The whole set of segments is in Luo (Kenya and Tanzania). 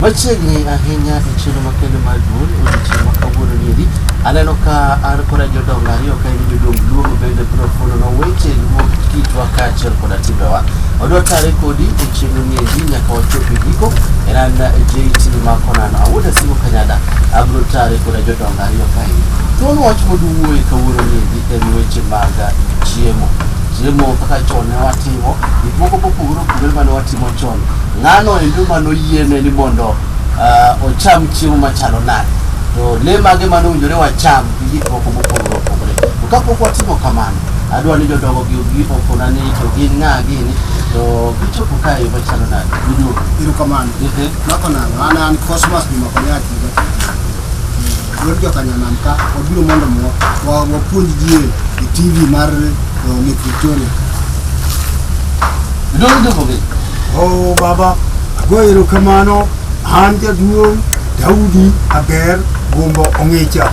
Machiegni ahinya e chiro makende mar duol odiochieng' ma kawuono nieri aneno ka an koda jodongo ariyo ka en jodong luongo bende biro fulono weche luo kitwa kaachiel koda timbewa odwa tare kodi e chenro nieri nyaka wachop e giko en an jt makonan awuoda simo kanyada abiro tare koda jodongo ariyo kae thuon wach moduwuoye kawuono nieri en weche mag chiemo chiemo kaka chon ne watimo gik moko mopogore opogore mane watimo chon Ng'ano endo ma noyiene ni mondo ah, ocham chiemo machalo nade? To le mage ma nowinjore wacham gi gik moko mopogore opogore? To kapok watimo kamano, adwa ni jodongo gi obi opona ni to gin ng'a gini to gichopo ka e yo machalo nade? Giduogo. Erokamano. Ehe. Mako nang'o? An an Cosmas Juma Konya Akiga. Wuod joka Nyanam ka wabiro mondo mo wa- wapuonj ji e TV mar eh, Lake Victoria. Giduogo giduogo gi. Oh baba, ago erokamano an jaduong' Daudi Aber Gumbo Ong'icha.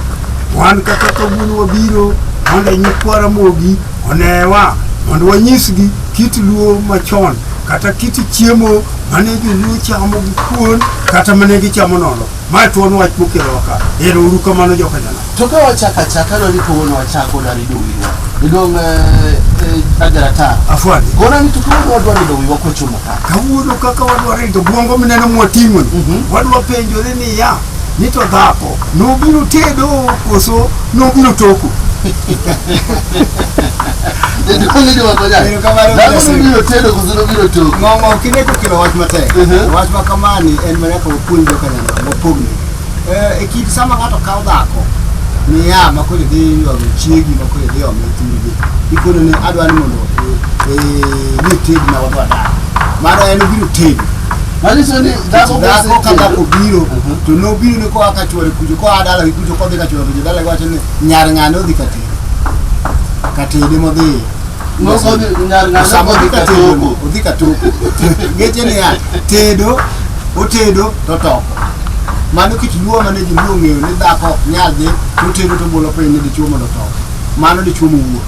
Wan kaka kawuono wabiro mondo nyikwa Ramogi onewa mondo wanyisgi kit luo machon kata kit chiemo mane joluo chamo gi kuon kata mane gichamo nono. Mae to en wach mokelo ka. Ero uru kamano joka jana. To ka wachako achaka no ni kawuono wachako na ni dowiwa. Idong eh, eh, ajara ta. Afwani. Gora ni to kawuono wadwa ni dowiwa kochomo ka. Kawuono kaka wadwa rito bwongo mineno mwating'o ni. Mhm. Wadwa penjore ni ya ni to dhako nobiro tedo koso nobiro toko. Jaduong' ni dowa konya. Erokamano Dhako Moses. nobiro tedo koso nobiro toko. Ng'ong'o kineko kelo wach matek. Mhm. Wach ma kamani en mana ka puonjo ka nyama mopogni e kit sama ng'ato kawo dhako miya ma koro idhi ywago chiegi ma koro idhi ome thurgi ikono ni adwa ni mondo ni tegna wadwa dak mano en obiro tego manyiso ni dhako dhako ka dhako biro to nobiro ni koa ka chwore kucho koa dalagi kucho kodhi ka chwore kucho dalagi wacho ni nyar ng'ane odhi katede katede modhiye Sama odhi ka tedo, odhi ka toko. Ngeche ni ya, tedo, otedo to toko. Mano kit luo mane ji luo ng'eyo ni dhako ok nyal dhi to tedo to bolo piny ni dichuo mondo otoko. Mano dichuo mowuo.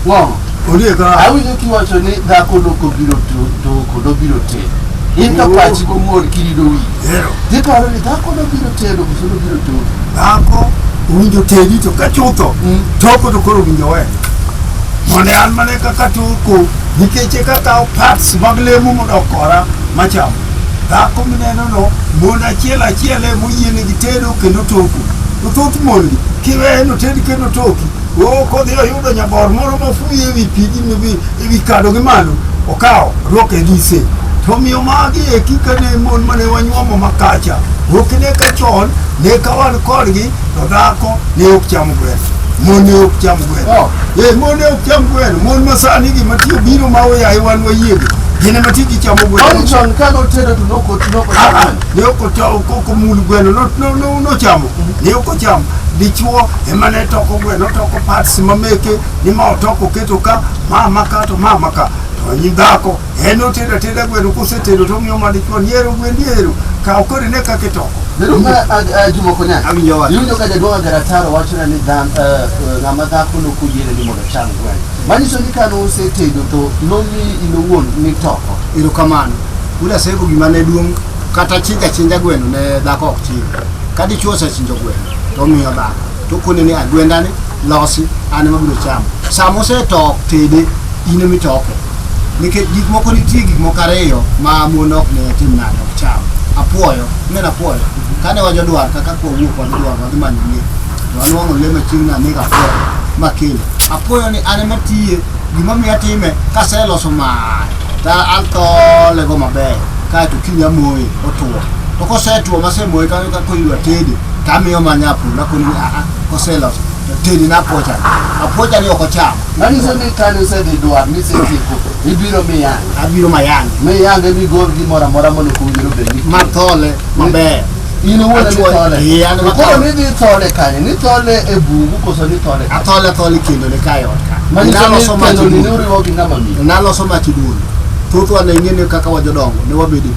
Ng'o? Ondiek ka Awinjo kiwacho ni dhako loko biro to- toko, dobiro tedo. In to pachi komor kirido wi. hero. Giparo ni dhako dobiro tedo, koso dobiro toko. Dhako owinjo tedi to ka chutho, Mm. toko to koro owinjo we. Mondo an mane kaka toko nikech eka kawo parts mag lemo mondo okora macham dhako minenono mon achiel achiel e moyienegi tedo kendo toko to thoth mongi kiweye noted kendo toki o kodhi oyudo nyabor moro mofuyi ewi pigi mibi ewi kado gi malo okawo ruoke gise to miyo magi eki kane mon mane wanyuomo makacha okine ka chon ne ka wan kodgi Dhako ne ok cham gweno, mon ne ok cham gweno. Oh. Eh, mon ne ok cham gweno, mon ma sani gi matiyo biro ma oyaye wan wayiego. Gin ema tiji chamo gweno. Kwani chon ka notedo to noko noko Ah, ah, chamo. ne ok ocha- ok- ok omul gweno no- no- no- nochamo ne ok ochamo dichuo ema ne toko gweno toko parts mameke ni ma otoko keto ka ma ma ka to ma ma ka to nyi dhako En otedo ateda gweno kosetedo to omiyo ma dichuo ni ero gwendi ero kaw koro ine kaka itoko. Bedo ma Juma Konya. Awinjo wach. Iwinjo ka jaduong' Agarataro wachona ni dhan- eh, eh, ng'ama dhako nok oyiene ni mondo ocham gweno. Manyiso ni kane osetedo to nomi in owuon nitoko. erokamano ula sego gima ne duong' kata chinja chinja gweno ne dhako ok chiny ka dichuo osechinjo gweno to omiyo dhako to kone ni agwendani losi an ema biro chamo sama osetop tede in ema itoke nikech gik moko nitie gik moko ariyo ma mon ok ne tim nade ok cham apuoyo neno apuoyo kane wajo dwar kaka kwa wuok wadhi dwar wadhi manyo lie to anwang'o lie machiegni ni anego apuoyo makele apuoyo ni an ema tiye gima miyo atime kaseloso mar ta athole go maber kaeto kiny amoye otuo to kosetuo masemoye kakoyudo atede tamiyo manya apuoyo nakoni ni aa koseloso tedi napocha apocha ni oko cham Nani se ni kane usedhi dwar ni setieko ibiro miya abiro mayange mi yange ni gol gimoro amora mondo kowinjore obed ni mathole maber in owuon ni Achuoyo. thole Ee, an To koro mathole. ni dhi thole kanye ni thole e bungu koso ni thole kanye? athole athole kendo ne kae ot ka Manyiso ni naloso mach kendo ni duono. uriwo gi ng'ama miyo naloso mach duono thothwa ne ing'e ni kaka wajodongo ne wabedo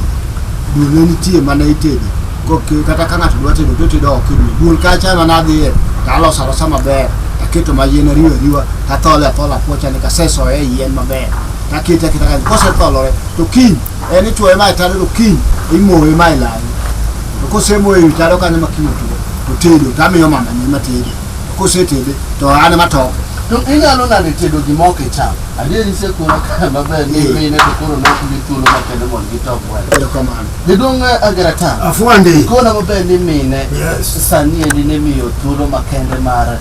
duono ne nitie mana itedo Kokyo kata ka ng'ato dwa tedo to tedo oko e dwe. Bul kacha ema nadhiye to aloso alosa maber. Aketo ma yien ariwa ariwa to athole athola apuocha ni kasesoye e yien maber. To akete aketa kanyo. Kosetholore to kiny en ichuoye ma e tado to kiny imoye ma e lawi. To kosemoye e wi tado kanyo ma kiny otuo to tedo to amiyo mamane ema tede. Kosetede to an ema toko. To inyalo nade tedo gima ok icham? Adier isekura kare maber ni Eh. mine to koro nok gi thuolo makende mondo gitok welo. Erokamano. Jaduong' Agarata, Afwandi. ikona maber ni mine Yes. sani endi ne miyo thuolo makende mar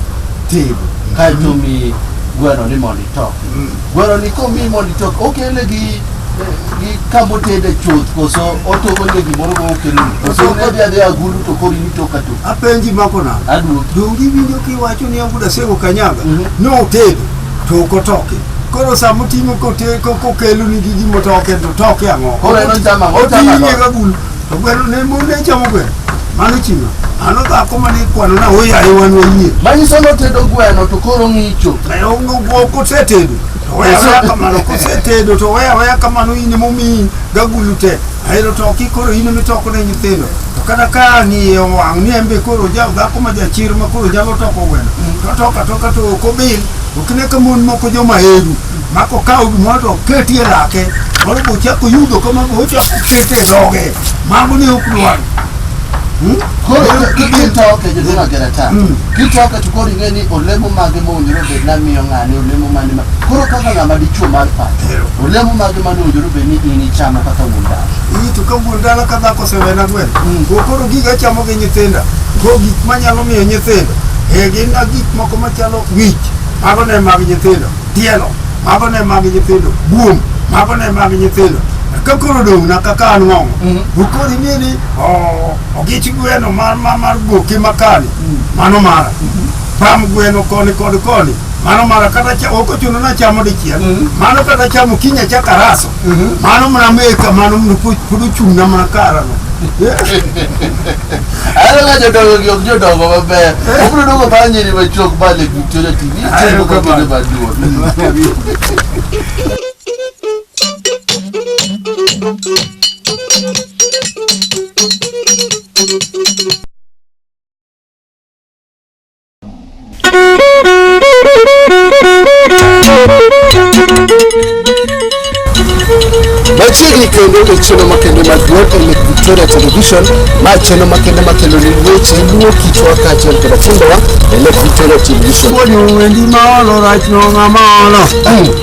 tego kaeto mi gweno ni mondo itok gweno ni komi mondo itok okele gi gi kamotede chuth koso otoko ne gimoro ma okelo koso kodhi adhi agulu to kori ni toka to Apenji mako nade? aduoki Donge iwinjo kiwacho ni Abuda Sego Kanyaga Mhm. notedo to ok otoke koro sama oting'o kote- ko- kokeloni gi gima otoke to toke ang'o Koro en ochama- ochama oting'e ang'o? gagulu to gweno ne mon ne chamo gweno mano chima mano dhako mane ikwanona oyaye wan wayie manyiso notedo gweno to koro ng'icho kosetedo to weya weya kamano kosetedo to weya weya kamano in emomiyi gagulu te Ahero toki koro in ema itoko ne nyithindo. To kata ka ang' iye owang' ni en be koro ja dhako ma jachir ma koro nyalo toko gweno. To toka toka to ok obil. Ok ne ka mon moko joma eru. Ma kokawo gimoro to oketi e lake. Moro be ochako yudo kama be ochako kete e dhoge. Mago ne ok dwar. Hmm? Koro Ahero kibil to- kitoke jodolo agera ta. Mm. Kichwako to koro ing'e ni olemo mage mowinjore obed ni amiyo ng'ani, olemo mane ma. Koro kaka ng'ama dichwo mar pacho, olemo mage mane owinjore obed ni in ichamo kaka wuon dala? Ii to ka wuon dala ka dhako osewena gweno. Mm. Go koro giga chamo gi nyithinda. Go gik manyalo miyo nyithindo. E gin na gik moko machalo wich. Mago ne mag nyithindo. Tielo. Mago ne mag nyithindo. Buom. Mago ne mag nyithindo. Ka koro dong' na kaka an ng'ong'o. Mm. Go koro ing'e ni oh, Ogich gweno mar mar mar goki makani mano mara pam gweno koni kod koni mano mara kata cha oko chuno na chamo dichiel mano kata chamo kinya cha karaso mano mna meka mano mna pudu chung na mna karano Ahero ga jodongo gi ok jodongo maber. Obiro dongo bang' nyiri machuok ba le Victoria TV. Ahero Chiemo ka kamano. bende maduong'. Machiegni kendo e chenro makende mag Glow e Lake Victoria Television ma chenro makende makelo ni weche luwo kitwa kaachiel koda timbewa e Lake Victoria Television. Odio wendi ma olo rach no ng'ama olo.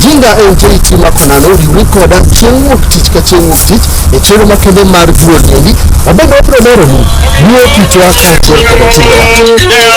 Jinga en JT Makonano riwri koda chieng' wuok tich ka chieng' wuok tich e chiro makende mar duol niendi wabende wabiro lero ni duo kitwa kaachiel koda timbewa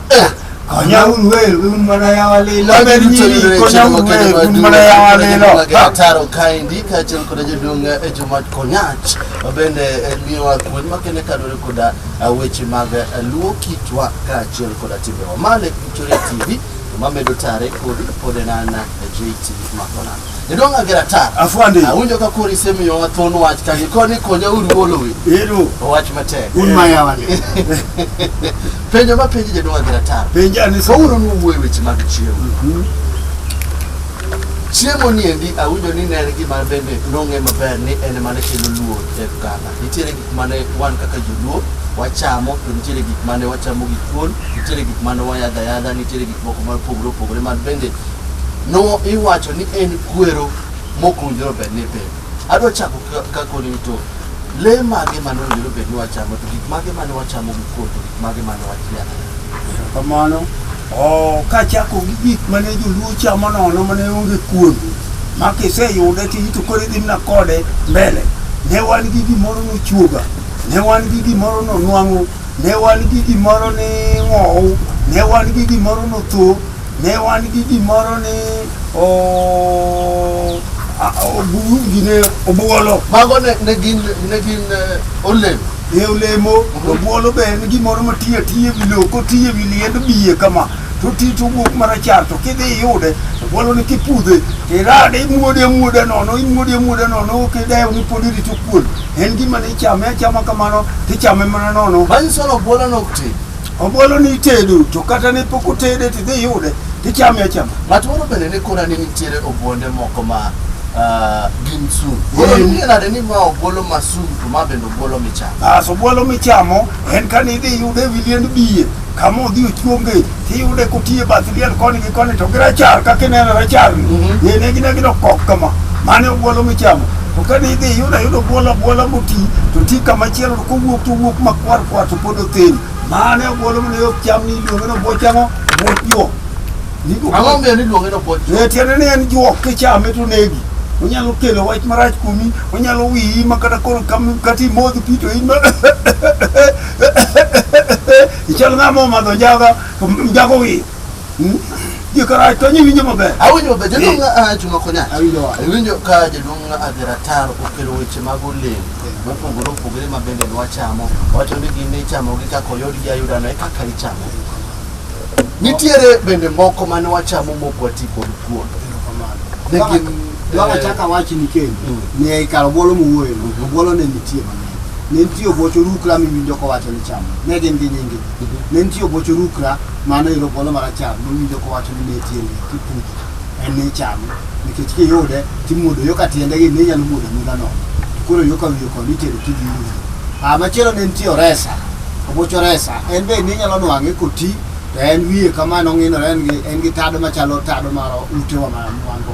Konyauru wer un mana yawa lilo ber nyiri konyauru wer un mana yawa lilo taro kaendi kaachiel koda jaduong' e jomat konyach bende eh, miyowa kuon makende kaluwore koda eh, weche mag eh, luo kitwa kaachiel koda timbewa male victoria tv mamedo tare kodi pod en an jt makonana Jodong Agera Tar. Afwande. Awinjo ka koro isemiyo wa thon wach ka gikoni konya uru wolowe. Ero. Wach matek. Un ma yawa ni. Penjo ma penjo jodong Agera Tar. Penjo ani so. Uru nu wuoye weche mag chiemo. Mhm. Chiemo ni endi awinjo ni ne en gima bende nong'e maber ni en ema ne kelo luo e oganda. Nitiere gik mane wan kaka joluo wachamo to nitiere gik mane wachamo gi thuol, nitiere gik mane wayadho ayadha, nitiere gik moko mopogore opogore man bende no iwacho ni en kwero mokunjore bed ni piny adwa chako ka- ka koni ni to le mage mane owinjore bed ni wachamo to gik mage mane wachamo gi kuon to gik mage mane wachia kamano o kachako gi gik mane joluo chamo nono mane onge kuon ma kiseyude to ito koro idhi mana kode mbele ne wan gi gimoro nochuoga ne wan gi gimoro nonwang'o ne wan gi gimoro ni ng'ow ne wan gi gimoro notho Ne wan gi gimoro ni o- a- obu- gine obuolo Mago ne, ne gin ne gin eh, olemo. e olemo to obuolo be en gimoro matiye tiye wi lowo kotiye wi liend biye kama to ti to wuok marachar to kidhi iyude obuolo ni kipudhe to irade imuode amuoda nono imuode amuoda nono ok idew ni pod irito kuon en gima ni ichame achama kamano tichame mana nono Manyiso ni obuolo no ok ti. Ombolo ni itedo to kata ne pok otede to idhi yude to ichame achama. Ng'at moro bende ne kona ni nitiere obuonde moko ma ah, gin sum. Koro Mm. nie nade ni ma obuolo ma sum to ma bende obuolo michamo. As obuolo michamo en ka ne idhi yude ewi liend biye kama odhi ochuonge to iyude kotiye bath liel koni gi koni to gi rachar kaka ineno rachar ni Mhm. ne ne gine gido kok kama mane obuolo michamo to ka ne idhi yude yudo obuolo abuola moti to ti kama chielo to kowuok to wuok makwar kwar to pod King. Mane obwolo mane ok cham ni iluonge ni obuoch ang'o? Obuoch juok. Nigo- Ang'o miyo niluonge ni obuoch? Eh, tiende ni en juok kichame to negi. Onyalo kelo wach marach kuomi, onyalo wiyi ma kata koro kam- kata imodh pi to in ma ichal ng'ama omadho njaga to njago wiyo. Jokara to nyi winjo maber. Awinjo maber jaduong' ng'a chuma konya. Awinjo wa. Awinjo ka jaduong' ng'a Dheratar okelo weche mag olemo mopogore opogore ma bende nwachamo. Wacho ni gin ichamogi kaka oyudgi ayuda no e kaka ichamo. Nitiere bende moko mane wachamo mok wati kod kuon. Ne Kaka- gin Kaka eh, chaka wachi ni kendo. Mm. Ne ikaro bolo muwuoyo. Mhm. Bolo ne nitie mang'eny. Ne nitie obocho rukra miwinjo kowacho ni chamo. Ne gin gi nyingi. Ne nitie obocho rukra Mano yudo polo marachar mawinjo kowacho ni ne tiende kipuji en ni chame nikech kiyude timuodo yo ka tiende gi ninyalo muodo muda no koro yo ka wiyo kod itero kidhi muodo ah machielo ne nitie oresa oboch oresa en be ninyalo nwang'e koti to en wiye kamano ng'inore en gi en gi tado machalo tado mar utewa ma wan go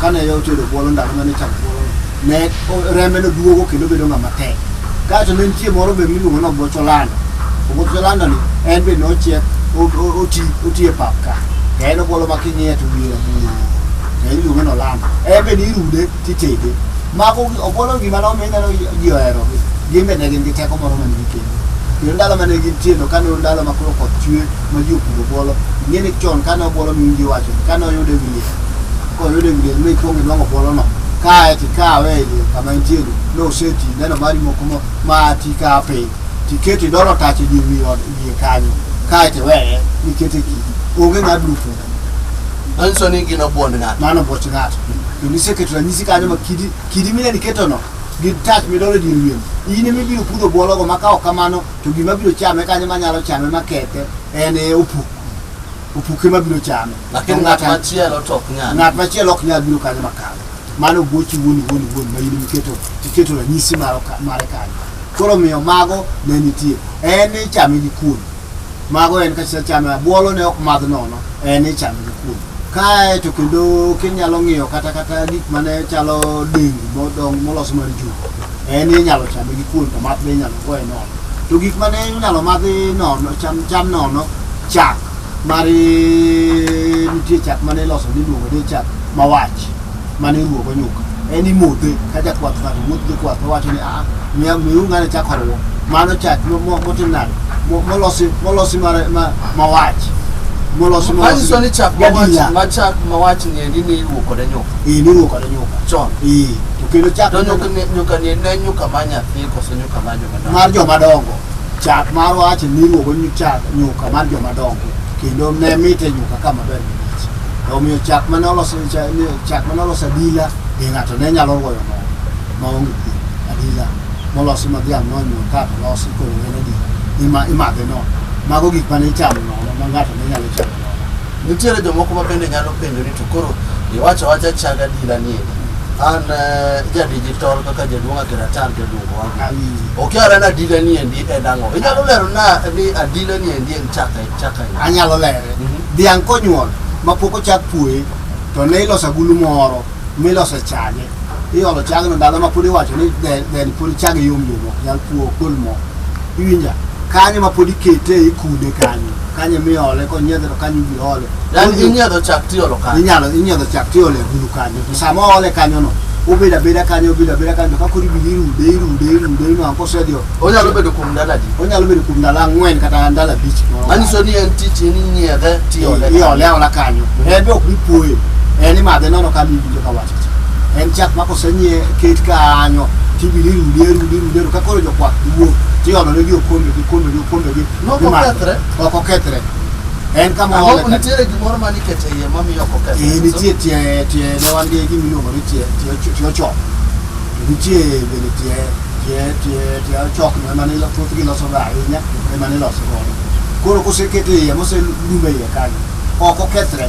Kane yo otedo bwolo ndalo mane chak bwolo ne o- rembe no duogo kendo bedo ng'ama tek. Kaeto ne nitie moro be miluongo ni oboch olanda. Oboch olanda ni en be nochiek o- o- oti oti e pap ka. To en obwolo ma king'iye to wiye rabuor. To en iluongo ni olanda. En be nirude titede. Mago gi- obwolo gima no mi ineno ji- ji ohero gi. Gin be ne gin gi teko moro mane gikelo. Kendo ndalo mane gintie to kane ndalo ma koro koth chwe ma ji opuro bwolo ing'e ni chon kane obwolo miwinj iwacho ni kane oyude wi liel koyude wi liel mikwongo inwang'o bwolono kae tikawe e liel kama entieno noseti neno mari moko mo- ma tikawo piny tiketi dolo tach e dier wi od wiye kanyo kae tiweye nikete kidi onge ng'a biro puro manyiso ni gin obuond ng'ato mano boch ng'ato kendo iseketo ranyisi kanyo ma kidi kidi mineni ketono gi tach midolo e dier wien in emibiro pudho bwologo ma ka ok kamano to gima biro chame kanyo manyalo chame makethe en e opuk opuk ema biro chame lakini ng'at machielo to ok nyal ng'at machielo ok nyal biro kanyo makalo mano gochi wuon wuon wuon ma in miketo iketo ranyisi maro ka- mare kanyo koro omiyo mago ne nitie en ichame gi kuon mago en kachisa chame abuolo ne ok madh nono en ichame gi kuon kae to kendo kinyalo ng'iyo kata kata gik mane chalo dengu modong molos mar jugu En inyalo chame gi kuon to math be inyalo goye nono. To gik mane inyalo madhi nono, cham, cham nono, chak. Mar eh, nitie chak mane iloso niluongo ni chak mawach mane iruwogo nyuka. En imodhe ka jakwath ng'ato wuotho gi kwath owacho ni aa miya miu ng'ane chak oruwo. Mano chak mo- mo- motim nade? Mo- Molosi molosi mar ma- mawach. Molosi Manyiso ni chak mawach, gadiya. ma chak mawach ni endi ni iruwo kode nyuka. Eh, niruwo kode nyuka. Chon. Eh. to kendo chak To nyuka ni nyuka ni ne nyuka ma nyathi koso nyuka ma joma dongo. mar joma dongo chak mar wache niluongo ni chak nyuka mar joma dongo kendo ne mite nyuka ka maber malich omiyo chak mane oloso cha- ni- chak mane oloso adila be ng'ato ne nyalo goyo nono ma onge piem adila molosi ma dhiang' nonyuol ka to losi koro en adila Ima- imadhe nono mago gik mane ichamo nono ma ng'ato ne nyalo chamo nono Nitiere jomoko ma bende nyalo penjo ni to koro iwacho wacha chag adila ni eri. an eh, jadigital kaka jaduong' akiratar jaduong' wangu okiara ni adila ni endi en ang'o inyalo lero na ni adila ni endi en chaka chaka en. anyalo lere Mhm. dhiang' konyuol ma pok ochak puoye to ne iloso agulu moro miloso e chage iolo chagno ndalo ma pod iwacho ni then pod chage yom yom ok nyal puo ok gol mo iwinja kanyo ma pod ikete ikude kanyo kanyo emi ole konyiedhe to kanyo ibi ole yani inyiedho chak tiolo kanyo inyalo inyiedho chak tiole agulu kanyo to sama ole kanyono obedo abeda kanyo obedo abeda kanyo to ka koro ibiro irude irude irude inwang' kosedio onyalo bedo kuom ndalo adi onyalo bedo kuom ndalo ang'wen kata ndalo abich moro manyiso ni en tich en inyiedhe tiole iole aola kanyo en be ok bipuoye en imadhe nono ka miwinjo ka wach en chak ma kosenyie ket kanyo tibiro irudi arudi irudi arudi ka koro jokwath wuok tiolonegi okombegi okombegi okombegi No, ok gimadho. okethre. ok okethre en kama Ang'o- oole ka- nitiere gimoro ma nikete iye mamiyo ok okethre? Eh, nitie tie tie ne wan gi gima iluongo ni tie tie ocho- tie ochok To nitie bende tie tie tie tie ochok no ema nilo thoth giloso ga ahinya ema niloso godo koro kosekete iye moselume iye kanyo ok okethre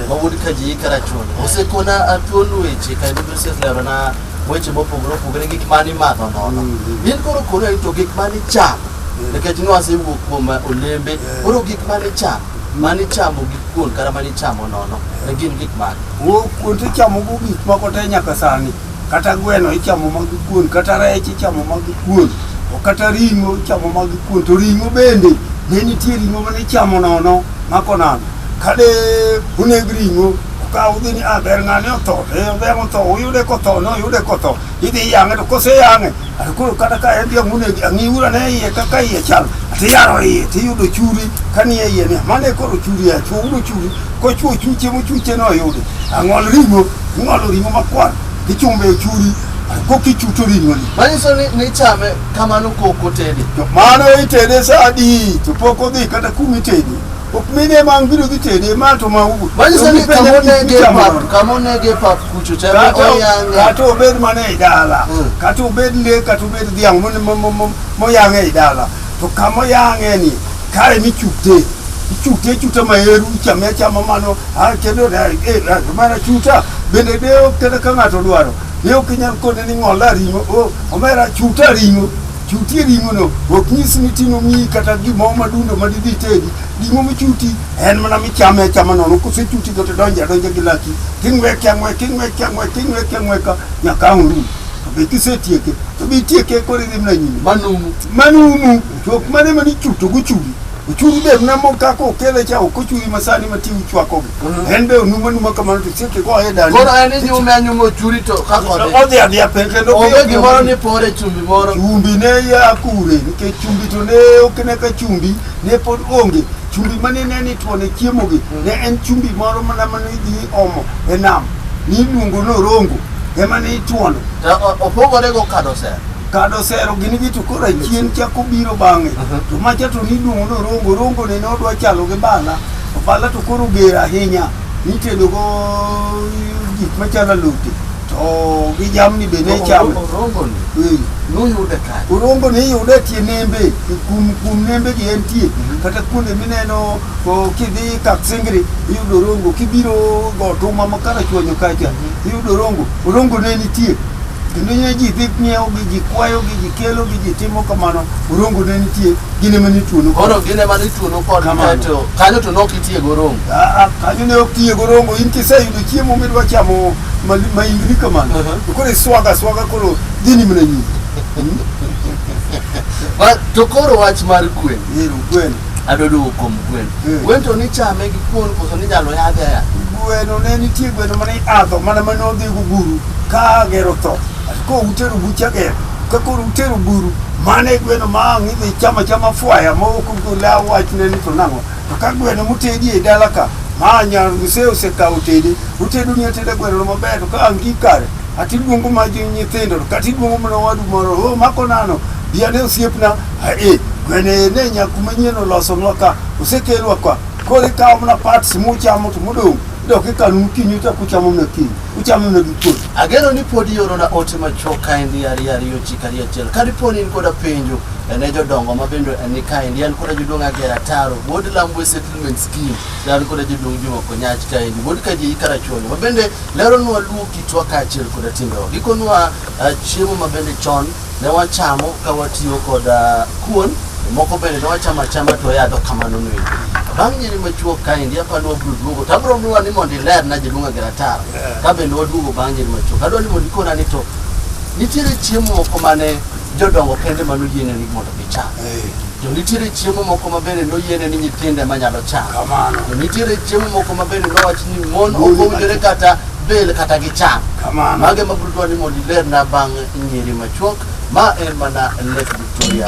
Wawuod Kaji Karachun osekona atuon weche ka Bible State lero na weche mopogore opogore gik ma nimadho nono. In koro koro to gik ma nichamo nikech nwasewuok kuom olembe koro gik ma nichamo ma nichamo gi kuon kata ma nichamo nono ne gin gik mage? Wo kuon to ichamogo gik moko te nyaka sani. Kata gweno ichamo mag kuon, kata rech ichamo mag kuon, o kata ring'o ichamo mag kuon. To ring'o bende ne nitie ring'o mane ichamo nono mako nano. Kane uneg ring'o, ukaw udhi ni ah, ber ng'ane otho, to eh, odhiang' otho, uyude kotho, noyude kotho, idhi iyang'e to koseyang'e, to koro kata ka en dhiang' unegi, ang'iuru ane iye kaka iye chal, to iyaro iye, to iyudo churi kanie iye ni mano e koro churi ya chwo, udo churi, kochwo chuche mochuche noyude, ang'ol ring'o, ing'olo ring'o makwar, ichumbe e churi, kokichuto ring'oni. Manyiso ni nichame kamano kok otede. To mano itede sa adi, to pok odhi kata kumitede. Ok mine ma ang' biro dhi tede ma to ma ugo. Manyiso ni Penja kama onege michamo pap, nono. kama onege pap kucho cha Kata o- oyang'e. kata obed mana e dala, Mm. kata obed le, kata obed dhiang' mon- mo- mo- mo- moyang'e e dala. To kama oyang'e ni, kare michukte. Ichukte ichukte maheru, ichame achama mano, ah, kendo na- eh, ah, mana chuta. Bende deo kata ka ng'ato dwaro. Deo kinyal kone ni ng'ola ring'o, oh, omera chuta ring'o. Chutie ring'ono ok nyis ni tino miyi kata gimoro madundo ma didhi tedi. Ring'o michuti en mana michame achama nono. Kosechuti to tidonje adonja gi laki. King'weke ang'weke, ing'weke ang'weke, ing'weke ang'weka nyaka ang' orum. To be kisetieke, to be itieke koro idhi mana nyime. Manumu. Manumu. To ok mane manichuto gochuli. Ochung' be namo kaka okele cha ok ochungi masani ma ti uchwakogi. Mhm. En be onuma numa kamano to chieke go e dani. Koro en inyume anyuma ochuri to ka kode. Odhi adhi ape kendo onge gimoro ni pore chumbi moro. Chumbi ne ya kure nikech chumbi to ne ok ne ka chumbi ne pod onge. Chumbi mane ne ni tuone chiemogi mhm. ne en chumbi moro mana mane idhi omo e nam. Ni luongo no rongo ema ne ituono. Opogore go kado sera. Kado sero gini gi to koro achien chako biro bang'e. To macha to niduong' norongo, rongo ne nodwa chalo gi bala. To bala to koro ger ahinya. Nitedo go gik machalo alote. To gi jamni be ne chame. Orongoni Eh. noyude kare. Orongo ni yude tie nembe, kum kum nembe gi entie. Kata kuonde mineno o, kidhi Kaksingri iyudo orongo, kibiro Gotuma ma Karachuonyo kacha iyudo orongo. Orongo ne nitie. kendo ne ji dhi ng'iewo gi ji kwayo gi ji kelo gi ji timo kamano orongo ne nitie gine mane ituono koro gine mane ituono kod kaeto kanyo to nok itiye gorongo aa kanyo ne ok tiye gorongo in kiseyudo chiemo midwa chamo maingni kamano to koro iswaga swaga koro gini mana nyingi to koro wach mar kwe ero kwen adwa duogo kuom gweno Mm. gweno to nichame gi kuon koso ninyalo yadhe aya gweno ne nitie gweno mane adho mana mane odhi guguru ka gero tho ka utero bucha gero ka koro utero guru mane gweno ma ang' idhi chama chama fwaya ma ok gola wach ne ni to nang'o to ka gweno mutedi e dala ka ma nyar mse osekawo tede utedo ni ateda gweno no maber to ka ang' gi kare ati luongo ma ji nyithindo to kati luongo mana wadu moro o mako nano Yane osiepna ae gwene ne nyaku manyien olosonwa ka osekelwa ka koro ikawo mana parts muchamo to modong' dok ikano mokinyi uchak uchamo mana kiny uchamo mana gi kuon Ageno ni pod iorona ote machuok kaendi ariyo ariyo chik ariyo achiel. Ka dipo ni in koda penjo ne jodongo ma bende ni kaendi, an koda jaduong' Agera Taro, wuod Lambwe Settlement Scheme, to an koda jaduong' Juma Konyach kaendi, wuod Kajeyi Karachuonyo, ma bende leronwa luwo kitwa kaachiel koda timbewa. Gikonwa Ah, chiemo ma bende chon ne wachamo ka watiyo kod ah, kuon moko bende ne wachamo achama to yadho kamano ni bang' nyiri machuok kaendi apani wabiro duogo to abiro miwa ni mondo ilerna jaluonga gi ratar ka bende waduogo bang' nyiri machuok adwa ni mondo ikona ni to nitiere chiemo moko mane jodongo kende mano yieneni mondo gicham To nitiere chiemo moko ma bende noyiene ni nyithindo ema nyalo chamo. Kamano. To nitiere chiemo moko ma bende nowach ni mon Mon ok owinjore kata bel kata gicham. Kamano. Mage ma biro dwaro ni mondo ilerna bang' nyiri machuok ma en mana Lake Victoria.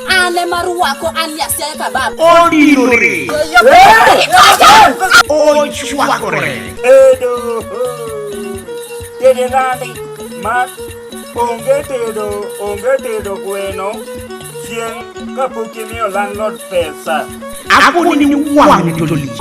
Ane maruwako ani asiaye kabab. Odinore. Ochwakore. Edo. Dede nandi. Mak. Onge tedo. Onge tedo gweno. Chieng' kapok imiyo landlord pesa. Akoni ni wang' to lich.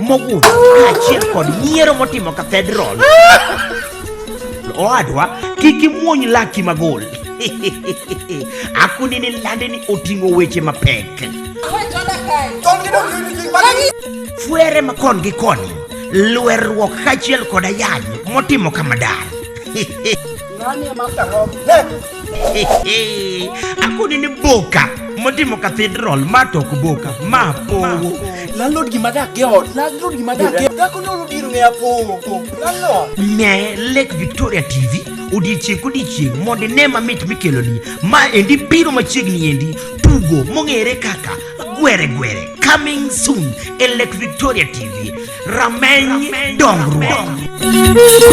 mogudho kaachiel kod nyiero motimo kathedral owadwa kik imuony laki magol akuni ni lande ni oting'o weche mapek fwere ma kon gi koni lwerruok kaachiel kod ayany motimo kamadar akoni ni boka motimo cathedral ma tok boka ma powo landlord gima dak e ot landlord gima dak e dhako ne olo dir ng'eya powo landlord ne lake victoria tv odiechieng' kodiechieng' mondo ine mamit mikeloni ma endi biro machiegni endi tugo mong'ere kaka gwere gwere coming soon e lake victoria tv rameny dongruok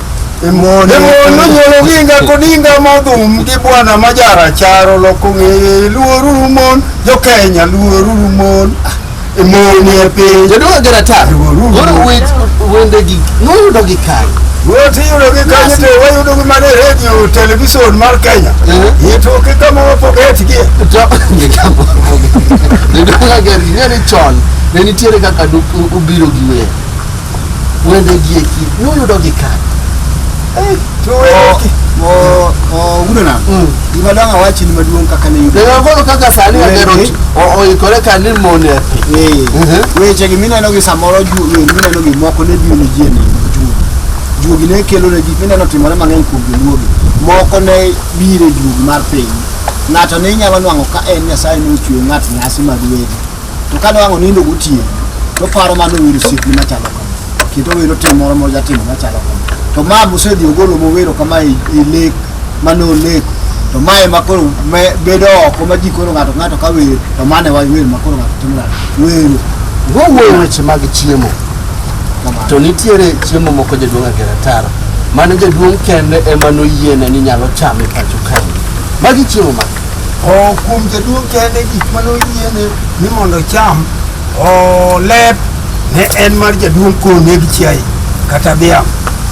Emono nyuolo ginga kodinga modhum gi bwana majara charo loko ng'eye luoruru mon jo Kenya luoruru mon emoni e piny Jaduong' Agera Tar, koro wech wendegi noyudo gi kar. Wuoth iyudo gi kanyo to wayudo gi mana e redio televison mar Kenya Eh. itoke kama wapogetgie To migambo. Jaduong' Agera ing'e ni chon ne nitiere kaka du- u- ubiro gi wer. Wende gieki nuyudo gi kanye? Eh, to wende mo mo udo na. Mm. Gima dang' awachi ni maduong' kaka ne yudo. Dega koro kaka sani Wende. agero ti- o- oikore ka ni mone api. Eh, Mhm. weche gi mineno gi samoro ju- eh, mineno gi moko ne biro ne ji e neno juogi juogi ne kelo ne gik mineno timore mang'eny kuom joluogi moko ne biro e juogi mar piny ng'ato ne inyalo nwang'o ka en nyasaye ne ochweyo ng'at nyasi mag wede to kane wang' onindo gotieno toparo mano owero siekni machalo kama kendo owero tim moro mojatimo machalo kama to ma mosedhi ogolo mowero kama e e lek mane oleko to ma ema koro me- bedo oko ma ji koro ng'ato ka ng'ato ka wer to mane wa wer ma koro ng'ato timo nade wero wowuoyo weche mag chiemo kamano to nitiere chiemo moko jaduong' agera taro mane jaduong' kende ema noyiene ni nyalo chame pacho kae magi chiemo ma O kuom jaduong' kende gik mane oyiene ni mondo ocham o lep ne en mar jaduong' koneg chiaye kata dhiang'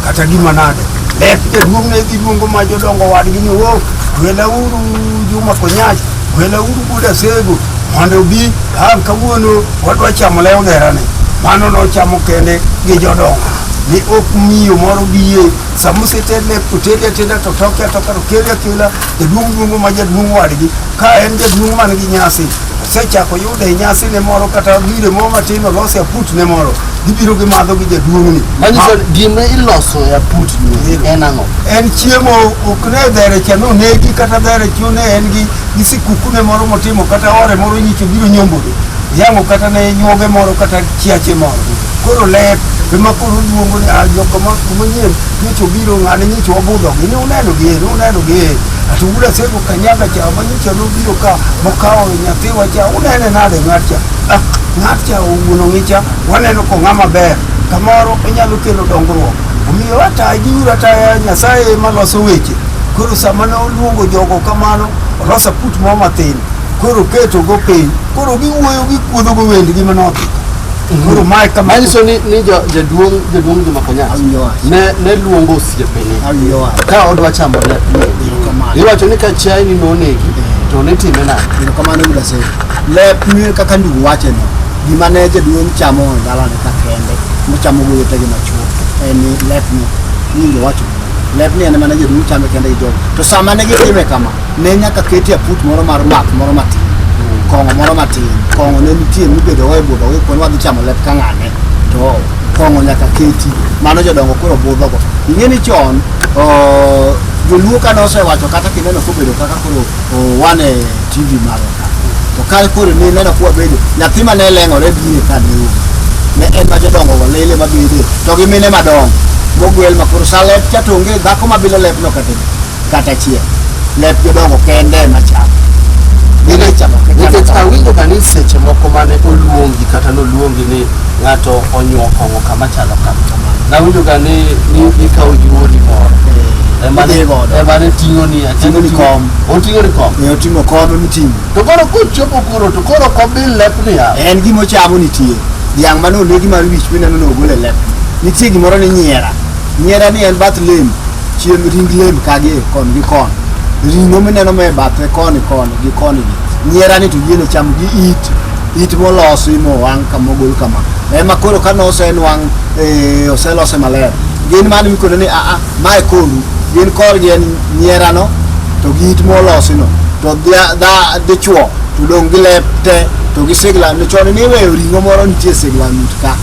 kata gima nade lep jaduong' ne dhi luongo ma jodongo wadgi ni o welauru juma konyach welauru buda sego mondo obi an kawuono wadwa chamo lew gerane mano nochamo kende gi jodongo ni ok miyo moro biye sama oseted lep to tedi ateda to toke atoka to kele akela Jaduong' luongo ma jaduong' wadgi ka en jaduong' man gi nyasi osechako yudo e nyasi ne moro kata gire moro matin olose aput ne moro gibiro gimadho gi jaduong'ni Manyiso gima iloso e aput ni en ang'o? en chiemo ok ne dhere cha nonegi kata dhere cha ne en gi gi sikukune moro motimo kata ore moro nyicho biro nyombogi yang'o kata ne nyuoge moro kata chiache moro Koro ler ema koro luongo ni ajo ah, kama manyien nyicho obiro ng'ane nyicho wabudho gi ni uneno gi ni uneno gi to ula sego kanyaga cha ma nyicho no biro ka mokawo nyathi wa cha unene nade ng'at cha ah, ng'at cha owuono ngicha waneno ko ng'ama ber kamoro onyalo kelo dongruok omiyo ata giuru ata nyasaye ema loso weche koro sama ne oluongo jogo kamano olosa put mo matin koro keto go piny koro giwuoyo gikuodho go wendgi manodhi Uhuru Mike kama Manyiso ni, ni jo, jaduong' jaduong' Juma Kenyatta ne, ne luongo osiepene ka odwa chamo ne iwacho ni ka chiaye ni nonegi to ne time nade? Erokamano Yuda Seko. Lep ni kaka ndugu wache no, gima ne jaduong' chamo e dalane ka kende, mochamo gi wetegi machuo, en ni lep ni, nyinge wacho. Lep ni en ema ne jaduong' chame kende gi jogo. To sama ne gitime kama, ne nyaka ketie aput moro mar math moro matin kong'o moro matin kong'o ne nitie mibedo wa e budho gi kuon wadhi chamo lep ka ng'ane to kong'o nyaka keti mano jodongo koro budhogo ing'e ni chon oh, joluo ka nosewacho kata kineno kobedo kaka koro oh, wan e tv malo ka to ka koro ne neno kuwa bedo nyathi ma ne leng'ore bire ka ne wuok ne en ma jodongo go lele ma bede to gi mine madongo mogwel ma koro sa lep cha to onge dhako ma bilo lepno kata kata achiel lep jodongo kende ema chamo Gine chamo kata nikech chamo. awinjo ka ni seche moko mane oluongi kata noluongi ni ng'ato onyuo kong'o kama chalo kama nawinjo ga ni ni ikawo yuori moro Eh, Ema ne- idhi godo. ema ne ting'oni achiel Ting'oni oting'o- kom. oting'oni kom Ne oting'o kome miting'o to koro kochopo kuro to koro kobil lepni ya en gima ochamo nitie dhiang' mane onegi mar wich mineno ni ogol e lep nitie gimoro ni nyiera nyiera ni en bath lem chiem ring lem kagi koni gi koni ring'o mineno me bathe koni koni gi koni gi nyiera ni to yiene cham gi it it molosi mowang' kamogol kama ema koro ka nosenwang' eh, oselose maler gin mano mikone ni aa mae koru gin korgi en nyierano to gi it molosino to dhia- dha- dichwo to dong' gi lep te to gi sigla ni chon niweyo ring'o moro nitie sigla nut ka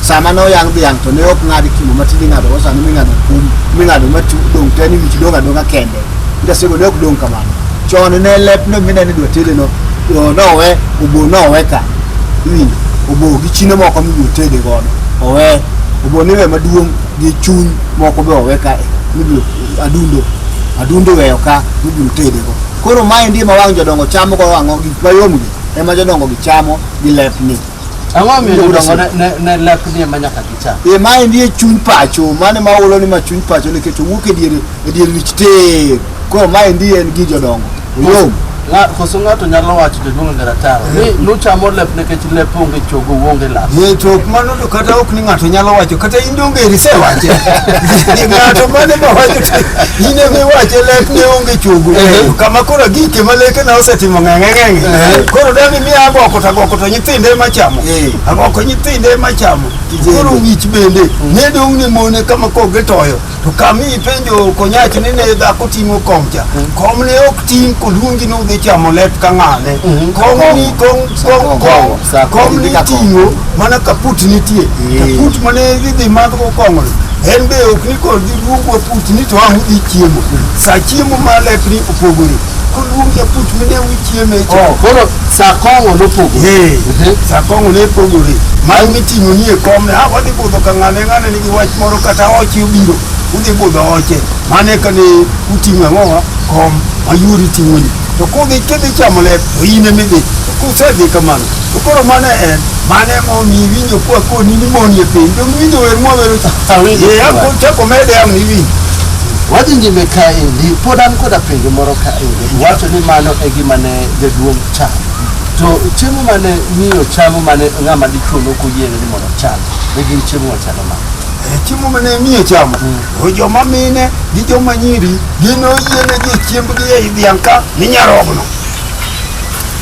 sama ne oyang dhiang' to ne ok ng'ad kimo matin ing'adogo sani ming'ado kum ming'ado matu dong' te ni wich dong' adong'a kende ndasego ne ok dong' kamano chon ne lepno mineno idwa tedeno o, nowe obo nowe ka iwinjo obo gi chino moko mibiro tede godo owe obo niwe maduong' gi chuny moko be owe ka mibiro adundo adundo weyo ka mibiro tedego koro maendi ma wang' jodongo chamo go wang'o gik mayomgi ema jodongo gi chamo gi lepni Ang'o omiyo jodongo ne- ne- ne laknie ma nyaka gicha? e ma endi e chuny pacho mane ma ulo ni ma chuny pacho nikech owuok e dier e dier wich te koro ma endi en gi jodongo oyom Ng'a- Koso ng'ato nyalo wacho jaduong' ngera taro ni nuchamo lep nikech lep onge chogo uonge lak. ye to ok mano to kata ok ni ng'ato nyalo wacho kata in donge irise wache ng'ato mane ma wacho to in ema iwache lek ne onge chogo kama koro gike ma leke na osetimo ng'eng'eng'enge koro dani mi agoko to agoko to nyithindo ema chamo Eh. agoko nyithindo ema chamo Kijende. koro wich bende ne dong' ni mone kama kok gitoyo to kami ipenjo konyach ni ne dhako ting'o kom cha kom ne ok ting' koluongi ni udhi chamo lep ka ng'ane Mhm. kom ni kom kom kom Sa kom kom ni idhi ka kom. ting'o mana kaput nitie Eh. kaput mane idhi madhgo kong'o en be ok ni kod giduogwa put ni to ang' udhi chiemo sa chiemo ma lepni opogore Oluong japuch mine wichieme Oh, cha. koro saa kong'o nopogo Ee, saa kong'o ne pogore. Mar miting'o nie komne, ha wadhi budho ka ng'ane ng'ane nigi wach moro kata oche obiro, udhi budho oche. Mane ka ne uting'o ang'owa kom mayuri ting'oni. To kudhi kidhi chamo lep, to in emidhi. Kusedhi kamano, To koro mano en mano ema omiyi winjo kwa koni ni moni e piny to winjo wer mwawero cha Awinjo Eh, kama. ako- chako mede am ni winjo Wadhi nyime kaendi, pod an koda penjo moro kaendi. Iwacho ni mano e gima ne jaduong' chamo. To chiemo mane miyo chamo mane ng'ama dichwo nokoyiene ni mondo ocham, ne gin chiemo machalo ma. Eh, chiemo mane miyo chamo o joma mine gi joma nyiri gin oyienegi chiembgi ei dhiang' ka ni nyarogno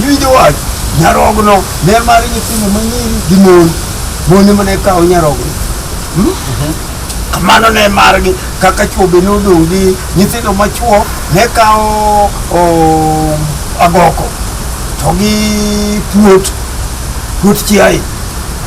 Iwinjo wach? Nyarogno, ler mar nyithindo manyiri gi mon. Mon ema ne kawo nyarogno. Hmm? Kamano ne margi kaka chwo be nodong' gi nyithindo machwo ne kawo o, agoko to gi puot puot chiaye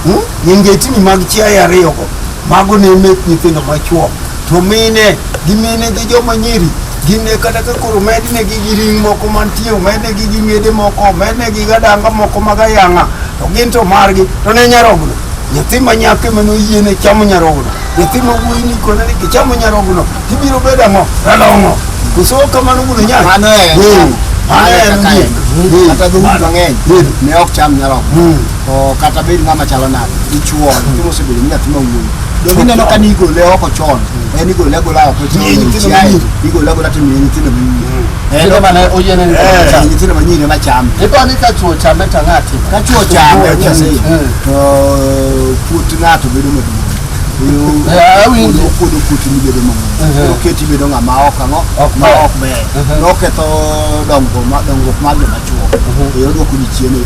hmm? nyengetini mag chiaye ariyogo mago ne mek nyithindo machwo to mine gi mine gi joma nyiri Gine kata ka koro mednegi gi ring moko mantie, omednegi gi ng'ede moko, omednegi gadanga moko mag ayang'a, to gin to margi, to ne nyarogno. Nyathi ma nyako ema noyiene chamo nyarogno. Nyathi ma wuoyi ni kone ni kichamo nyarogno, tibiro bedo ang'o? Ralong'o. Koso ok kamano gulo nyaka. Mano e- Eh, mano mano e en kaka en. ondiek. Eh, Kata dhoudi mano. mang'eny Eh, ne ok cham nyarogno. Mm. to kata bed ng'ama chalo nade dichuo nyathi mosebedo ni nyathi mawuoyi donge ineno ka ni igole oko chon en igole agola oko chon Miye nyithindo chiaye, manyiri. igole agola to miye nyithindo manyiri Eh, Kinde mane oyiene ni Eh, cham. nyithindo manyiri ema chame Ipo ni ka chuo chame to ng'ati. ka chuo chame Chuo nyase, chame. eh, to puot ng'ato bedo maduong' Oyo- Eh, awinjo. oyo- okuodo puoti mibedo mamuol Mhm. oketi ibedo ng'ama ok ang'o Ok ma ber. ok ber Mhm. noketho dongruok ma- dongruok mar joma chuo Mhm. e odwoko ji chien e yo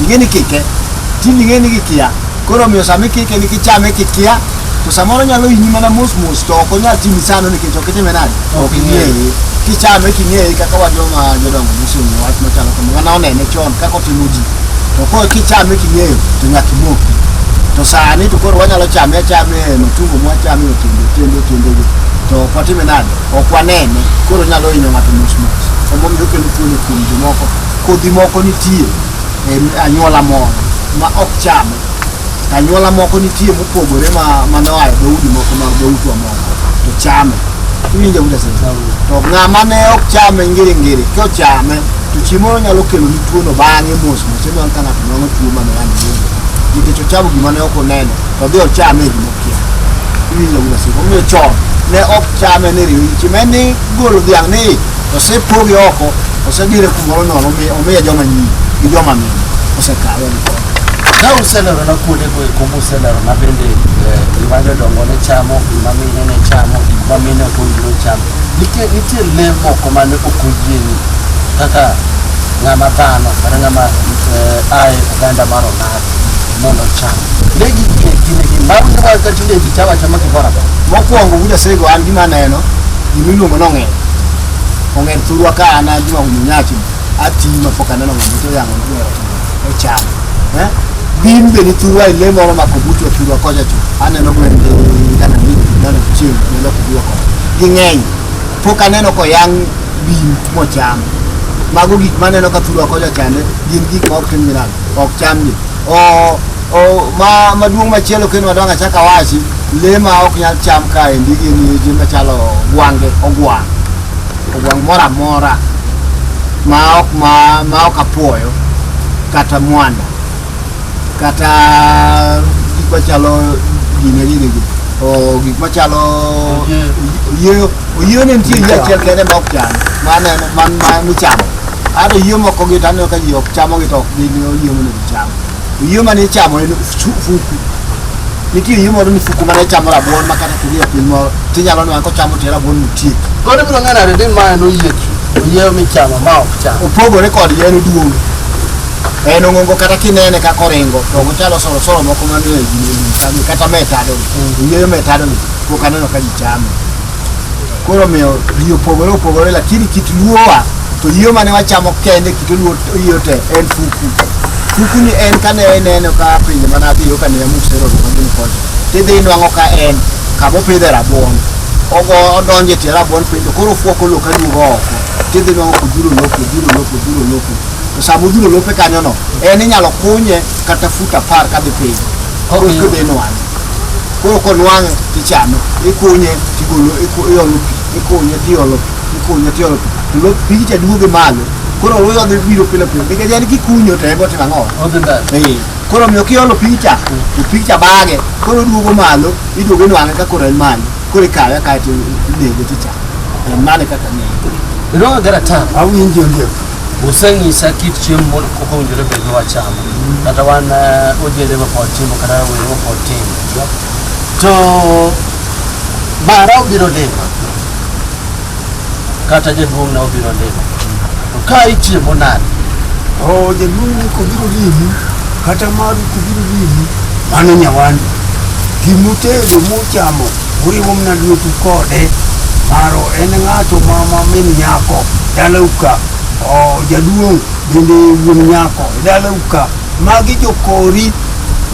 Ing'e ni kike, tinde ing'e ni kikia. Koro omiyo sama ikike ni kichame kikia, to samoro nyalo hinyi mana mos mos to ok onyal timi sano nikech ok itime nade? Ok ing'eye. Kichame king'eye kaka wa joma jodongo mosomo wach machalo kamano. Wana onene chon kaka otimo ji. To koro kichame king'eyo to nyaka imoki. To sani to koro wanyalo chame achame e matungo mwachame otindo otindo otindo gi. To ok watime nade? Ok wanene. Koro nyalo hinyo ng'ato mos mos. Omomiyo okelo tuono kuom jomoko. Kodhi moko nitie e anyuola moro ma ok chame. To Anyuola moko nitie mopogore ma ma noa e dhoudi moko mag dhoutwa moko to chame. Iwinjo kuda sasa? To ng'ama ne ok chame ngiri ngiri kochame to chiemo nyalo kelo ni tuono bang'e mos mos ema ka ng'ato nwang'o tuo mane wan godo. Nikech ochamo gima ne ok oneno to odhi ochame e gima okia. Iwinjo kuda sasa? Omiyo chon ne ok chame ni riyo. Chime ni golo dhiang' ni Osepogi oko, osedire kumoro nono, omi- omiye joma nyiri gi joma mine. Osekawe ni kode. Ka uselerona kuonde go eko muselerona bende eh, gima jodongo ne chamo, gima mine ne chamo, gima mine ok owinjore ocham. Nitie nitie le moko mane ok oyieni kaka ng'ama dhano kata ng'ama eh, ae oganda mar oganda. mondo ocham. Ne gike kinde gi bang' ne wan ka tinde ji chama chama gimoro amora. Mokwongo buda sego an gima aneno gima iluongo ni ong'er. Ong'er thurwa ka an an Juma Winyo Nyachi ati ma pok aneno ng'ama to yang'o ni ong'er ocham. Eh? Gin be ni thurwa e le moro ma kobuto thurwa koja chu. Aneno gwen gi dana ni dana chieng' ne loko thurwa koja. Ging'eny. Pok aneno ko yang' bim mocham. Mago gik maneno ka thurwa koja chande gin gik ma ok tim gi nade. ok chamni o o ma maduong' machielo kendo madongo achak awachi le ma ok nyal cham kaendi gin je machalo gwange ogwang' ogwang' moro amora ma ok ma ma ok apuoyo kata mwanda kata gik machalo gine gini gi o gik machalo oyieyo oyieyo ne nitie yie achiel kende ma ok cham maneno man ma michamo Ato yie moko gi to aneno ka ji ok chamo gi to ok gin yie mondo gicham. To yie mane ichamo en fu- fuku. Nitie yie moro ni fuku mane chamo rabuon ma kata kidhi e piny moro tinyalo neno kochamo tie rabuon nitie. Koro ibiro ng'eyo nade ni mae noyiech? Oyieyo michamo ma ok cham. Opogore kod yien oduong'. En ong'ongo kata kinene kaka oringo to ok ochalo soro soro moko manie gini chame kata metado. Oyieyo metado ni pok aneno ka ji chame. koro omiyo ji opogore opogore lakini kit luowa to yio mane wachamo kende kit luo yio te en fuku fuku ni en kane ineno ka pinje mane adhiyo kane amusero magini kocha tidhi inwang'o ka en kama opidhe rabuon ogo odonje tie rabuon piny to koro ofuoko lowo ka duogo oko tidhi inwang'o kodhuro lowo kodhuro lowo kodhuro lowo to sama odhuro lope kanyono en inyalo kunye kata fut apar kadhi piny koro kidhi inwang'e koro konwang' tichame ikunye tigolo iku- iolo pi ikunye tiolo pi ikunye tiolo pi to lo- pigi cha duoge malo koro luya odhi biro pile pile nikech en kikunyo to en go timo ang'o Odhi ndani. Ee, koro miyo kiolo picha to picha bage koro duogo malo iduogo inwang'e ka koro en malo koro ikawe kaeto inego ticha en mane kaka ng'eyo Iroga gara tano. Awinjo ndio. Useng'isa kit chiemo moro kok owinjore bed ni wachamo kata wan eh, ojende mapod timo kata rawere mapod timo to mara obiro lima kata jaduong'na obiro lima to ka ichiemo nade o jaduong' ni kobiro limi kata maru kobiro limi mano nyawandi gimutego muchamo Uriwo mna lwetu kode maro en ng'ato ma ma min nyako dalau ka o jaduong' bende wuon nyako dalau ka magi jokori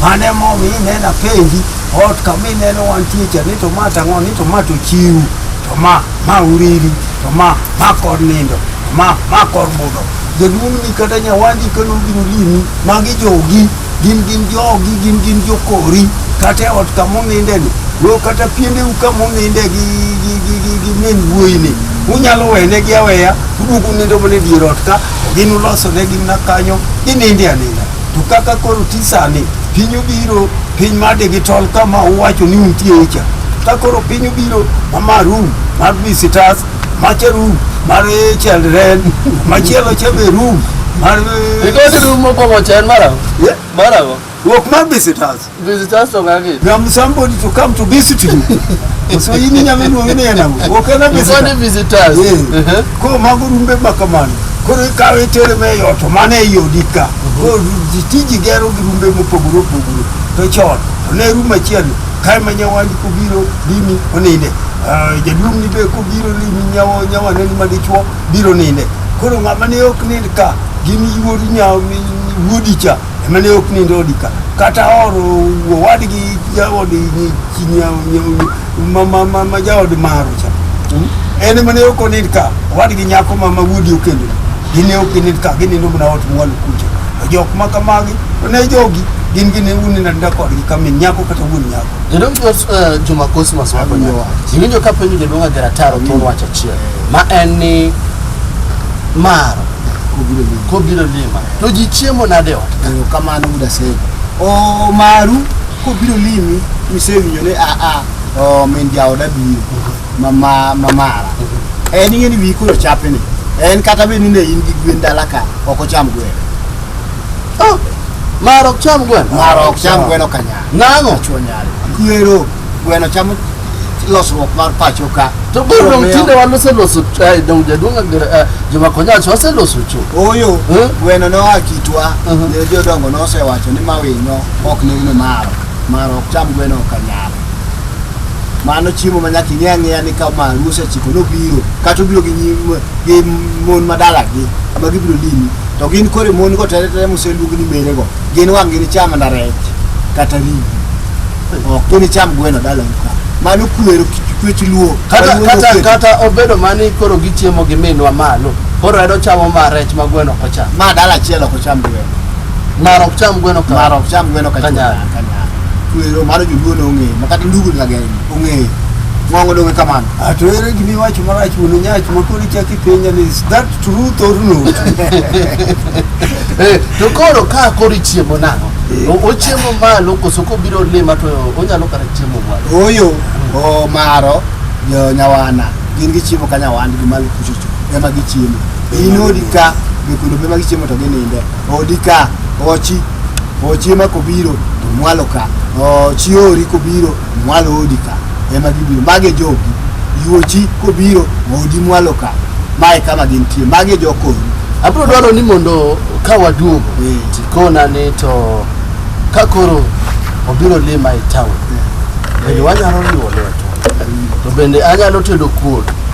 mane momi ineno apenji ot kama ineno wantie cha ni to ma tang'o ni to ma to chiwu to ma ma uriri to ma ma kor nindo to ma ma kor budho jaduong' ni kata nyawandi kano biro limi magi jogi gin gin jogi gin gin jokori kata e ot kama onindeni wo kata piendeu kama oninde gi gi- gi- gi- gi min wuoyini unyalo wenegi aweya uduogo unindo mana e dier ot ka gin ulosonegi mana kanyo gininde aninda to kaka koro ti sani piny obiro piny mar digital kama uwacho ni untie cha ka koro piny obiro mama room mar visitors Mache room mar children, machielo cha be room mar Because room mokwongo cha en marago. Yeah. Marago. Ruok mar visitors. Visitors to ng'agi. You have somebody to come to visit you. So in nyamin wong ne na. Okay na Before the visitors. visitors. Yeah. Uh-huh. Ko mago rumbe ma kamano. Koro ikawo itere me yot mane e yodi ka. Koro tiji gero gi rumbe mopogore opogore. To chon to ne rum achiel Kae ma nyawandi kobiro limi oninde. Ah, Jaduong' ni be kobiro limi nyawo nyawane ni madichuo biro ninde. Koro ng'ama ne ok nind ka gin yuor nyawo mi wuodi cha ema ne ok nind odi ka. Kata oro owadgi jaodi ni chi nyawo nyawo ma ma ma, ma jaod maro cha. En ema ne ok onind ka owadgi nyako ma ma wuodi okendo. gin e ok init ka ginindo mana ot mwalo kucha to jok ma kamagi to ne jogi gin gin unindo aninda kodgi ka min nyako kata wuon nyako You don't know uh, Juma Cosmas wako Awinjo nyaka. wach. Iwinjo ka penjo jaduong' Agera Taro thon wach achiel. Ma en ni mar kobiro limo kobiro lima. To ji chiemo nade e ot? eyo kamano muda sego o maru kobiro limi misewinjo ni aa o min jaoda biro ma ma ma mara en ing'e ni wiyi koro chape ni en kata bed ni ne in gi gwen dala ka ok ocham gwen Ah, Mara ok cham gweno. mara ok cham gweno ka nyare Nang'o? chuo nyare kwero gweno chamo losruok mar pacho ka To koro dong' tinde wan waseloso ch- eh, dong' jaduong' Agere- eh, Juma Konyachi waseloso cho. oyo Eh? gweno noa kitwa Mhm. ne jodongo nosewacho ni mawinyo ok nene maro maro ok cham gweno ka nyare mano chiemo ma nyaka ing'e ang'eya ni ka ma ruosi ochiko nobiro kata obiro gi nyim gi mon madalagi ma gibiro limi to gin kore mon go tere tere moseluog ni mere go gin wang' gini cham mana rech kata ringo ok gini cham gweno dalagi ka mano kwero kwech luo kata Maluo kata kwero. kata obedo mani koro gichiemo gi minwa malo koro en ochamo ma rech ma gweno ok ocham ma dala achiel ok ocham gweno mar ok cham gweno ka mar ok cham gweno ka Kanyare. chula, kanyare Kwero mar joluo ne ong'eyo, ma kata ndugu ni lageng' ong'eyo. Ng'ongo dong' e kamano. Ah, to ere gima iwacho marach wuon Onyach ma koro ichako ipenja ni is that truth or not? Eh, to koro ka koro ichiemo nang'o O- ochiemo malo koso kobiro lima to onyalo kata chiemo malo Oyo, o maro, jo nyawana, gin gichiemo ka nyawandgi malo kuchocho, ema gichiemo. Inodi ka, jokundo ema gichiemo to gininde. Odi ka, ochi, ochi ema kobiro to mwalo ka, ochi ori kobiro mwalo odi ka, ema gibiro. Mage jogi, yuochi kobiro odi mwalo ka, mae kama gintie, mage jokoni. Abro dwaro ni mondo ka waduogo Eh. tikona ni to ka koro obiro lima e town bende wanyalo riwo lweto to bende anyalo tedo kuon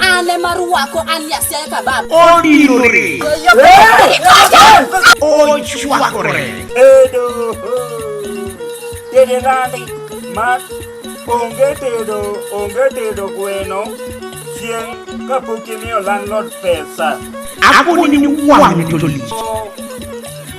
Ane maruwako ane asiaye kabab. Odinore. Ochwakore. Edo. Dede nandi. Mak. Onge tedo. Onge tedo gweno. Chieng' kapok imiyo landlord pesa. Akoni ni wang' to lich.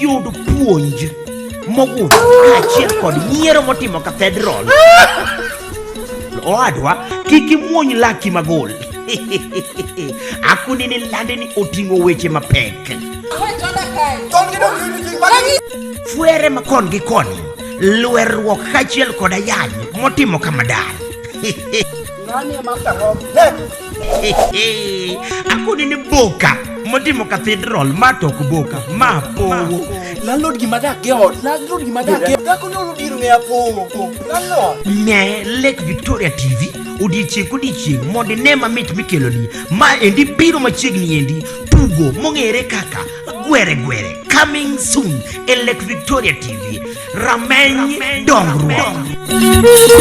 Yud puonj mogundho kaachiel kod nyiero motimo kathedral. Owadwa, kik imuony laki magol. Akundi ni lande ni oting'o weche mapek. Fwere ma kon gi koni, lwerruok kaachiel kod ayany motimo kamadar. akoni ni boka motimo cathedral ma tok boka ma powo landlord gima dak e ot landlord gima dak e dhako ne olo dir ne apowo landlord ne lake victoria tv odiechieng' kodiechieng' mondo ine mamit mikeloni ma endi biro machiegni endi tugo mong'ere kaka gwere gwere coming soon e lake victoria tv rameny dongruok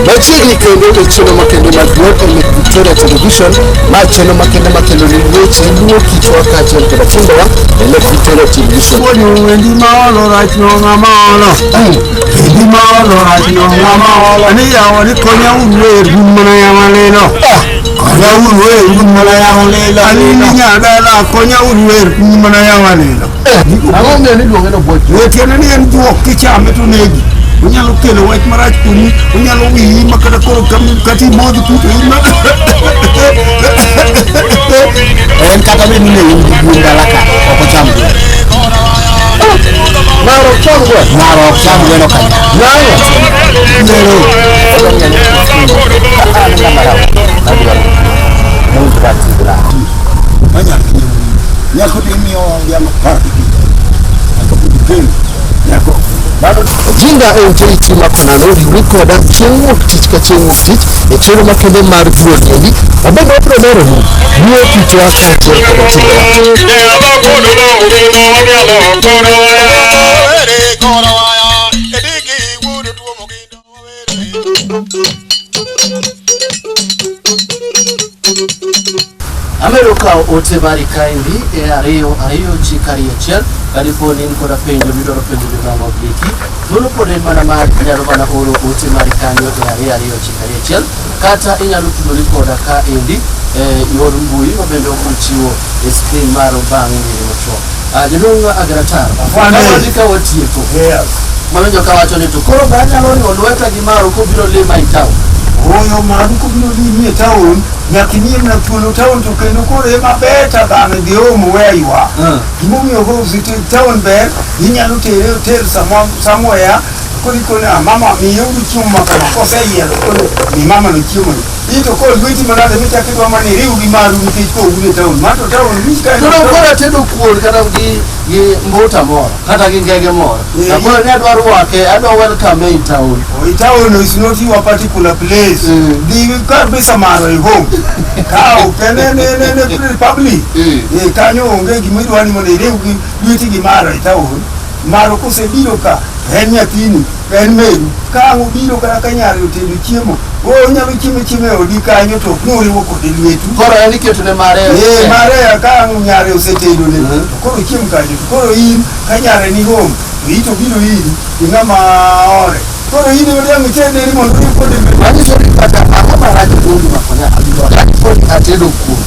Machiegni kendo e chenro makende mag Glow e Lake Victoria Television ma chenro makende makelo ni weche luwo kitwa kaachiel koda timbewa e Lake Victoria Television. Wendi ma olo rach no ng'ama olo. Wendi ma olo rach no ng'ama olo. Ani yawa ni konya un wer gun mana yawa lelo. Konyauru e un mana yawo lela. Anini nyadala konyauru e un mana yawo lela. Ang'o miyo ni luonge no bwoch? Wetiene ni en juok kichame to negi. Onyalo kelo wach marach kuomi, onyalo wiyi ma kata koro kata imodhi kuto in ma. En kata bed ni ne in gi gwen dala ka ok ocham gwen. Maro ok cham gwen. Maro ok cham gwen okanya. Nang'o? Nero. jinda e ute iti makonano riwri koda chieng' wuok tich ka chieng' wuok tich e chenro makende mar duonendi wabende wabiro leronu duo kitwa kaachiel koda timbewa Amedo kawo ote mari kaendi e ariyo ariyo ji kari achiel kadipo ni in koda penjo midwaro penjo jodongo giki thuolo pod en mana mar inyalo mana oro ote mari kanyo e ariyo ariyo ji kari achiel kata inyalo tudori koda kaendi e yor mbui ma bende ochiwo e skrin maro bang' nyiri machuok Ah, jaduong' Agratar, Afande. kawadi ka watieko, Yes. mawinjo ka wacho ni to koro be anyalo riwo lweta gi Maro kobiro lima e town. Oyo madu kobiro limi e taon, nyaka inie mana thuolo taon to kendo koro ema ber ta dhano dhi omo we aywa. Mm. Gimomiyo Hobbs ti taon ber, inyalo tere otel samo- somewhere koro ikone "Ah, mama miyeuru chiemo ma kama koseyiero koro mi mama no chiemo no. Ito ko lweti manade michako idwa mana iriw gi maru nikech ko un e taon. Mar to taon wich ka en Koro taon. koro atedo kuon kata gi gi mbuta moro kata gi ngege moro. Eh. Na koro ne adwa rwake, adwa welcome in town. Oh, i taon is not your particular place. Mm. Dhi kar be samaro e home. Ka ok en en en en en republic. Mm. Eh, kanyo onge gima idwa ni mondo iriw gi lweti gi maro e taon. Maro kosebiro ka en nyathini Ber meru, ka ang' ubiro kata ka nyare otedo chiemo, o- unyalo chiemo chiemo e odi kanyo to ok ni uriwo kode lwetu. Koro en iketo ne mare. Eh, mare ka ang' nyare osetedo ne, Mhm. to koro chiem kanyo. To Koro in ka nyare ni home, to ito biro iri, to ng'ama ore. Koro in ema dang' ited ne ni mondo uriw kode lwetu. Manyiso ni kata ang'o marach kuondi makonya abiro rach kuondi atedo kuom.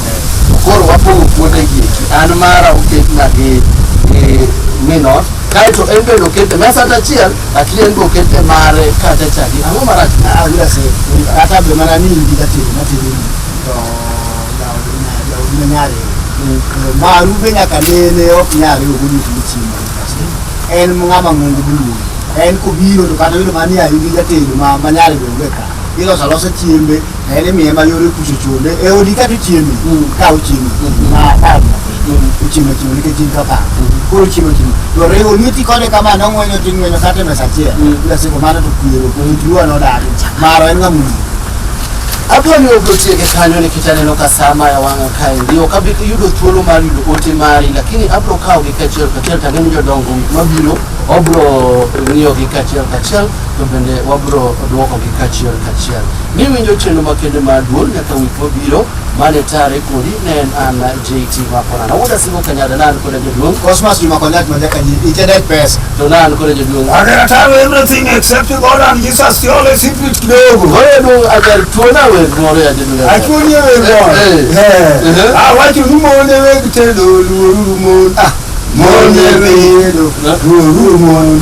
Koro wapogo kuonde gi eki. An mara oket na gi gi minot kaeto en bende okete mesa kata achiel lakini en be okete mare kata chadi ang'o marach awira se kata be mana ni indi jatelo matelo ni to jaodi ne nyare maru be nyaka nene ok nyare ogoni tini chimba en ng'ama ng'ongo buluo en kobiro to kata bedo mani ayudi jatelo ma manyare be onge ka iloso alosa chiembe en imiye ma yore kucho chode e odi ka tichieme ka ochieme ma apar ochiemo chiemo nikech in kaka koro chiemo chiemo to riwo lweti kode kama nong'wenyo ting'wenyo kata e mesa achiel lasiko mano to kwero luwa nodagi maro en ng'amuno Abiro ni ok otiege kanyo nikech aneno ka saa maya wang'a kaendi. Ok abi yudo thuolo mar yudo ote mari lakini abiro kawogi kachiel kachiel to ang'e ni jodongo mabiro obiro ng'iyogi kachiel kachiel to bende wabiro dwokogi kachiel kachiel. Niwinjo chenro makende mar duol nyaka wik mabiro mane tare kodi ne en an JT Makona. Nawuoda singo kanyada nan koda jaduong' Cosmas Juma Konyat Majaka Nyi, Itenet Pesa. to nan koda jaduong'. I can tell everything except God and Jesus, the only secret kidogo. Koro jaduong' ajar tuona wer moro ya jaduong'. Achuonyi e wer moro. Eh, eh. Eh. Awacho ni mon e weg tedo, luoruru mon. Ah, mon e weg tedo, luoruru mon.